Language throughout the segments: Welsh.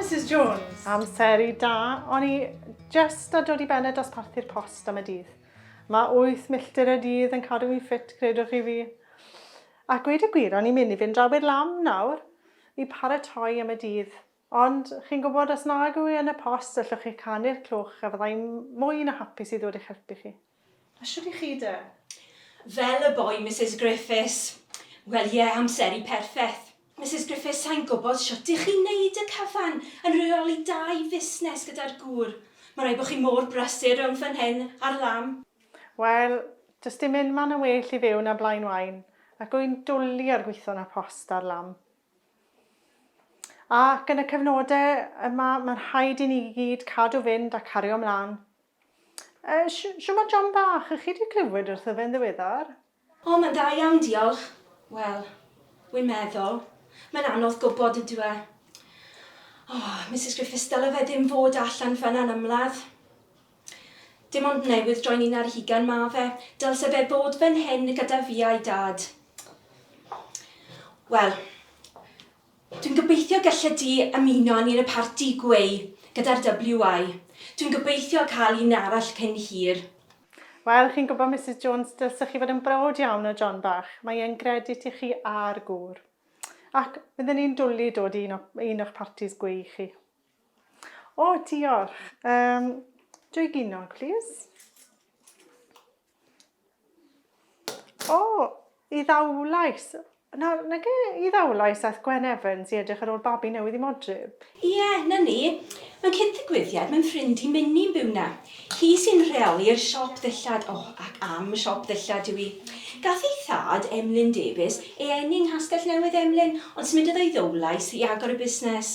Mrs Jones. Amser i da, o'n i just a dod i ben y dosparthu'r post am y dydd. Mae 8 milltir y dydd yn cadw i'n ffit, credwch chi fi. A gweud y gwir, o'n i'n mynd i fynd draw i'r lam nawr i paratoi am y dydd. Ond, chi'n gwybod, os nag yw hi yn y post, allwch chi canu'r cloch a fydda i'n mwy na hapus i ddod i'ch helpu chi. A shwt i chi de? Fel y boi, Misus Griffiths. Wel, ie, amseru perffeth. Misus Griffiths, sai'n gwybod shwt i chi wneud y cyfan yn rheoli dau fusnes gyda'r gŵr. Mae'n rhaid bod chi mor brysur rhwng fan hyn a'r lan. Wel, does dim unman yn well i fyw na Blaenwaun, ac wy'n dwli ar gweithio yn y post a'r lan. Ac yn y cyfnodau yma, mae'n rhaid i ni i gyd cadw fynd a cario mlaen. E, siwmai John bach, ych chi wedi clywed wrtho fe'n ddiweddar? O, mae'n dda iawn, diolch. Wel, wi'n meddwl, mae'n anodd gwybod, ydyw e? O, Misus Griffiths, dyle fe ddim fod allan fan'na yn ymladd. Dim ond newydd droi'n un ar hugain ma fe. Dylse fe fod fan hyn gyda fi a'i dad. Wel, dwi'n gobeithio gelle di ymuno â ni yn y parti gweu gyda'r WI. Dwi'n gobeithio cael un arall cyn hir. Wel, chi'n gwybod, Misus Jones, dylse chi fod yn browd iawn o John bach. Mae e'n gredit i chi a'r gŵr. Ac, fydden ni'n dwli dod i un o, un o'ch partis gweu chi. O, diolch. Um, dwy ginog, plis. O, i ddawlais. Na, na ge i ddawlais ath Gwen Evans i edrych ar ôl babi newydd i modryb. Ie, yeah, na ni. Mae'n cyd-ddigwyddiad, mae'n ffrind i Minni'n byw na. Hi sy'n rheoli'r siop ddillad, o, oh, ac am y siop ddillad yw i. Gath ei thad, Emlyn Davies, ei eni yng Nghastell Newydd Emlyn, ond symudodd o i Ddowlais i agor y busnes.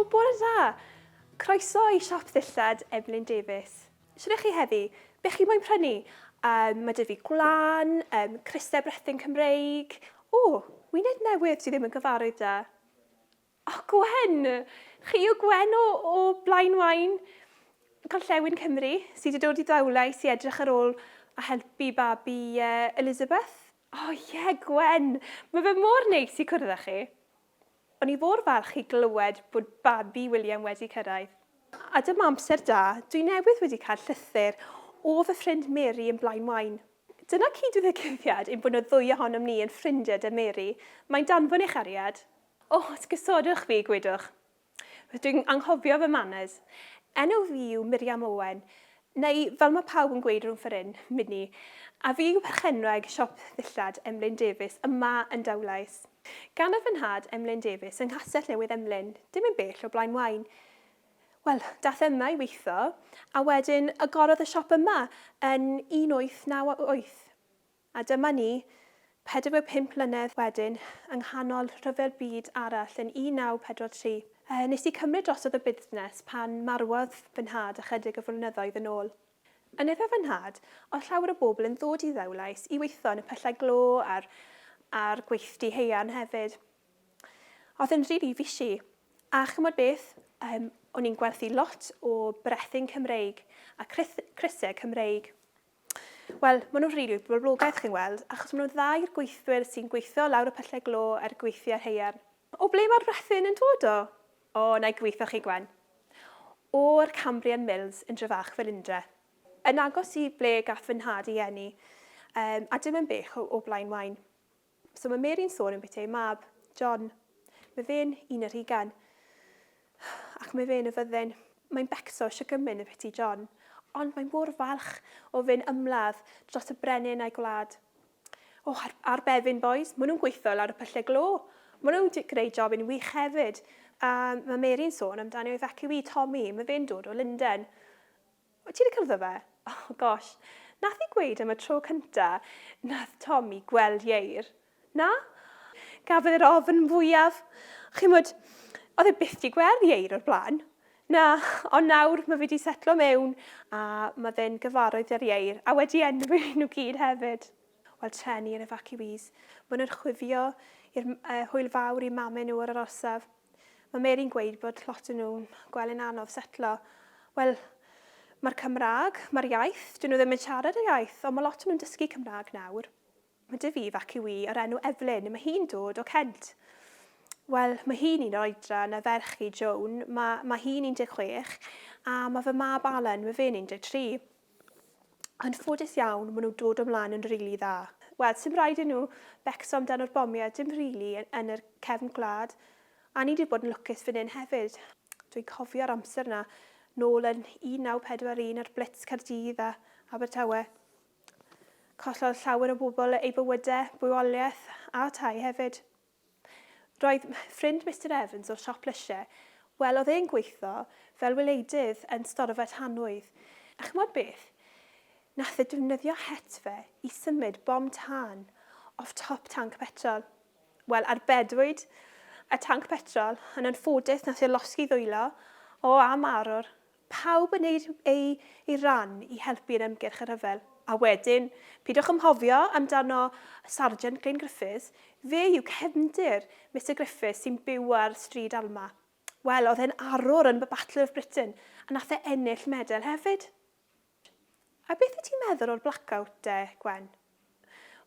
O, bore da! Croeso i siop ddillad Emlyn Davies. Shwt chi heddi? Be chi moyn prynu? Um, mae dy fi gwlan, um, crysau brethyn Cymreig. O, wyneb newydd sydd ddim yn gyfarwydd da. O Gwen! Chi yw Gwen o, o Blaen Waun, Gorllewin Cymru, sydd wedi dod i Ddaulais i edrych ar ôl a helpu babi uh, Elizabeth? O oh, ie, yeah, Gwen! Mae fe mor neis i cwrdd â chi. O'n i fôr falch i glywed bod babi William wedi cyrraedd. A dyma amser da, dwi newydd wedi cael llythyr o fy ffrind Mary yn Blaen Waun. Dyna cyd-ddigwyddiad ein bod y ddwy ohonom ni yn ffrindiau 'da Mary. Mae'n danfon ei chariad. O, os gosodwch fi, gwydwch. Dwi'n anghofio fy manners. Enw fi yw Miriam Owen, neu fel mae pawb yn gweud rhwng ffor hyn, Minnie, a fi yw perchenwraig siop ddillad Emlyn Davies yma yn Dowlais. Ganodd fy nhad Emlyn Davies yng Nghastell Newydd Emlyn, dim yn bell o Blaen Waun. Wel, dath e yma i weitho, a wedyn agorodd y siop yma yn 1898. A dyma ni, 45 mlynedd wedyn, yng nghanol rhyfel byd arall yn 1943. Nes i cymryd drosodd y busnes pan marwodd fy nhad ychydig o flynyddoedd yn ôl. Yn efe fy nhad, oedd llawer o bobl yn ddod i Ddewlais i weithio yn y pyllau glo a'r a'r gweithdy haearn hefyd. Oedd yn rili fishy. A ch'mod beth? Yym, o'n i'n gwerthu lot o brethyn Cymreig a crys- crysau Cymreig. Wel, maen nhw'n rili boblogaidd, chi'n weld, achos maen nhw'n dda i'r gweithwyr sy'n gweithio lawr y pyllau glo a'r gweithiau haearn. O ble mae'r brethyn yn dod o? O, na i gweithio chi, Gwen. O'r Cambrian Mills yn Dryfach Felindre. Yn agos i ble gath fy nhad ei eni, a dim yn bell o Blaenwaun. So mae Mary'n sôn am byti ei mab, John. Mae fe'n un yr hugain. Ac mae fe'n y fyddin. Mae'n becso eisiau gymyn y byti John. Ond mae mor falch o fyn ymladd dros y brenin a'i gwlad. O, oh, ar, ar befin, boys. Mae nhw'n gweithio lawr y pyllau glo. Mae nhw'n greu job yn wych hefyd. A mae Mary'n sôn amdani o'i fac yw i, Tommy. Mae fe'n dod o Linden. Wyt ti 'di cylddo fe? Oh gosh, nath hi gweud am y tro cynta nath Tommy gweld Ieir. Na? Gafodd e'r ofn fwyaf. Chimod, oedd e byth 'di gweld Ieir o'r blaen. Na, ond nawr mae fe 'di setlo mewn a mae fe'n gyfarwydd â'r Ieir a wedi enwi nhw gyd hefyd. Wel, treni yr efaciwîs. Maen nhw'n chwifio i'r hwyl fawr i mame nhw ar yr orsaf. Mae Mary'n gweud bod lot o nhw'n gweld yn anodd setlo. Wel, mae'r Cymraeg, mae'r iaith, dyn nhw ddim yn siarad y iaith, ond mae lot o nhw'n dysgu Cymraeg nawr. Mae dy fi fac yw i o'r enw Evelyn, mae hi'n dod o Kent. Wel, mae hi'n un o'r oedran na ferch i, Joan, mae, mae hi'n 16, a mae fy mab Alan, mae fe'n 13. Yn ffodus iawn, ma nhw'n dod o mlaen yn rili dda. Wel, sim raid i nhw becso amdano'r bomiau, dim rili, yn yr cefn gwlad. A ni 'di bod yn lwcus fan hyn hefyd. Dwi'n cofio'r amser 'na, nôl yn 1941 a'r blitz Caerdydd a Abertawe. Collodd llawer o bobl eu bywydau, bywoliaeth a tai hefyd. Roedd ffrind Mister Evans o'r siop lysiau, wel, oedd e'n gweithio fel wileidydd yn storfa tanwydd, a ch'mod beth? Nath e defnyddio het fe i symud bom tân off top tanc petrol. Wel, arbedwyd y tanc petrol, yn anffodus nath e losgi ddwylo, o, a marw'r Pawb yn neud eu eu ran i helpu yn ymgyrch y rhyfel. A wedyn, pidwch ymhofio amdano Sarjant Glyn Griffiths, fe yw cefndir Mister Griffiths sy'n byw ar Stryd Alma. Wel, oedd e'n arwr yn y Battle of Britain, a nath e ennill medel hefyd. A beth wyt ti'n meddwl o'r blackout de, Gwen?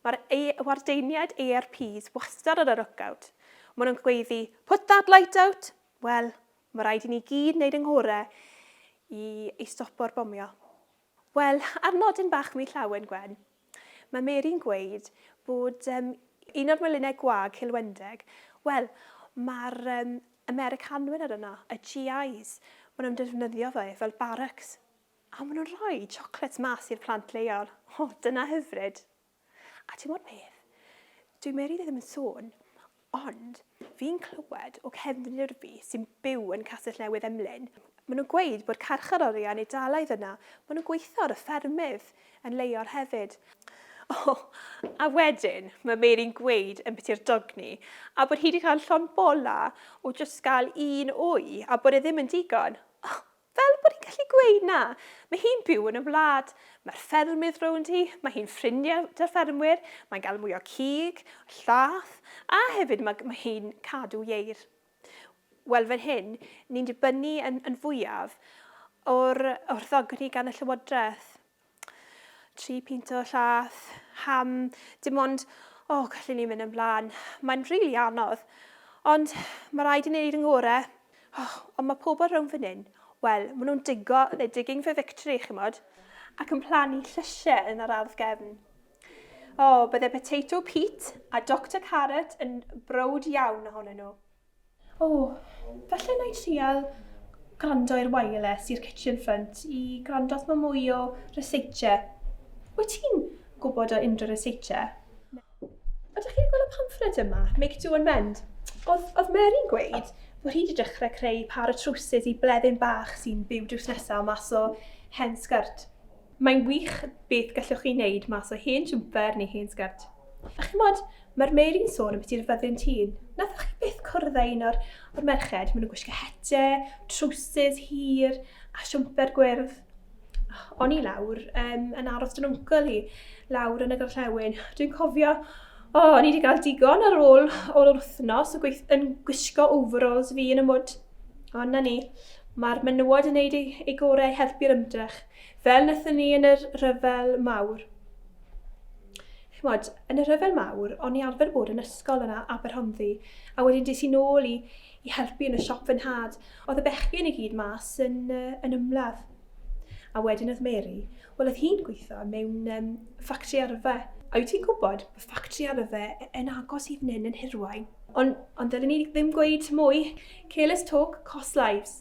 Mae'r wardeiniaid ARPs wastad ar y lookout. Maen nhw'n gweiddi, put that light out! Wel, mae rhaid i ni gyd wneud yng nghorau i, i stopo'r bomio. Wel, ar nodyn bach mi llawen, Gwen, mae Mary'n gweud bod um, un o'r melinnau gwag cilwendeg, wel, mae'r um, Americanwyr ar yno, y GIs, maen nhw'n defnyddio fe fel barracks. A maen nhw'n rhoi chocolates mas i'r plant leol. O, dyna hyfryd. A ti'n gwybod beth? Dwi meri ddim yn sôn, ond fi'n clywed o cefnwyr fi sy'n byw yn Castell Newydd Emlyn, maen nhw'n gweud bod carcharorion Eidalaidd yna, maen nhw'n gweithio ar y ffermydd yn leol hefyd. O, a wedyn mae Meri'n gweud yn biti'r dogni, a bod hi wedi cael llond bola o jyst gael un wy, a bod e ddim yn digon. O, Fel bod hi'n gallu gweud na! Mae hi'n byw yn y wlad. Mae'r ffermydd rownd hi, mae hi'n ffrindiau 'da'r ffermwyr, mae'n gael mwy o cig, llath, a hefyd ma' mae hi'n cadw ieir. Wel fan hyn, ni'n dibynnu yn yn fwyaf o'r o'r ddogni gan y Llywodraeth. tri pint o llath, ham, dim ond, o, oh, gallu ni mynd yn blaen. Mae'n rili really anodd, ond mae rhaid i ni wneud yn gore. Oh, ond mae pobl rhwng fan hyn, wel, maen nhw'n digo, they're digging for victory, chi'n modd, ac yn plannu llysiau yn yr ardd gefn. O, oh, bydde Potato Pete a Dr Carrot yn brod iawn ohonyn nhw. O, falle wna i trial gwrando i'r wireless i'r kitchen front i gwrando os mae mwy o researche. Wyt ti'n gwybod o unrhyw researche? Ydych chi'n gweld y pamffled yma, Make Do and Mend? Oedd, oedd Mary'n gweud bod hi wedi dechrau creu pâr o trowsus i bleddyn bach sy'n byw drws nesaf mas o hen sgyrd. Mae'n wych beth gallwch chi wneud mas o hen jwmper neu hen sgert. A chimod, mae'r Mary'n sôn ambiti i'r fyddin tîn. Nathoch chi byth cwrdd â un o'r, o'r merched? Maen nhw'n gwisgo hete, trowsus hir a siwmper gwyrdd. O'n i lawr um, yn aros dyn wncl hi, lawr yn y gorllewin. Dwi'n cofio, o, oh, o'n i wedi cael digon ar ôl o'r wythnos o gweith, yn gwisgo overalls fi yn y mwd. Ond na ni, mae'r menywod yn gwneud ei, ei gorau i helpu'r ymdrech. Fel wnaethon ni yn yr rhyfel mawr. Chymod, yn y rhyfel mawr, o'n i arfer bod yn ysgol yna, Aberhonddu, a wedyn des i nôl i, i helpu yn y siop fy nhad. Oedd y bechgyn i gyd mas yn, uh, yn ymladd. A wedyn oedd Mary, wel oedd hi'n gweithio mewn um, ffactri arfe. A wyt ti'n gwybod, mae ffactri arfe e, yn agos i fnyn yn hirwain. Ond, ond dylwn ni ddim gweud mwy. Careless talk, cost lives.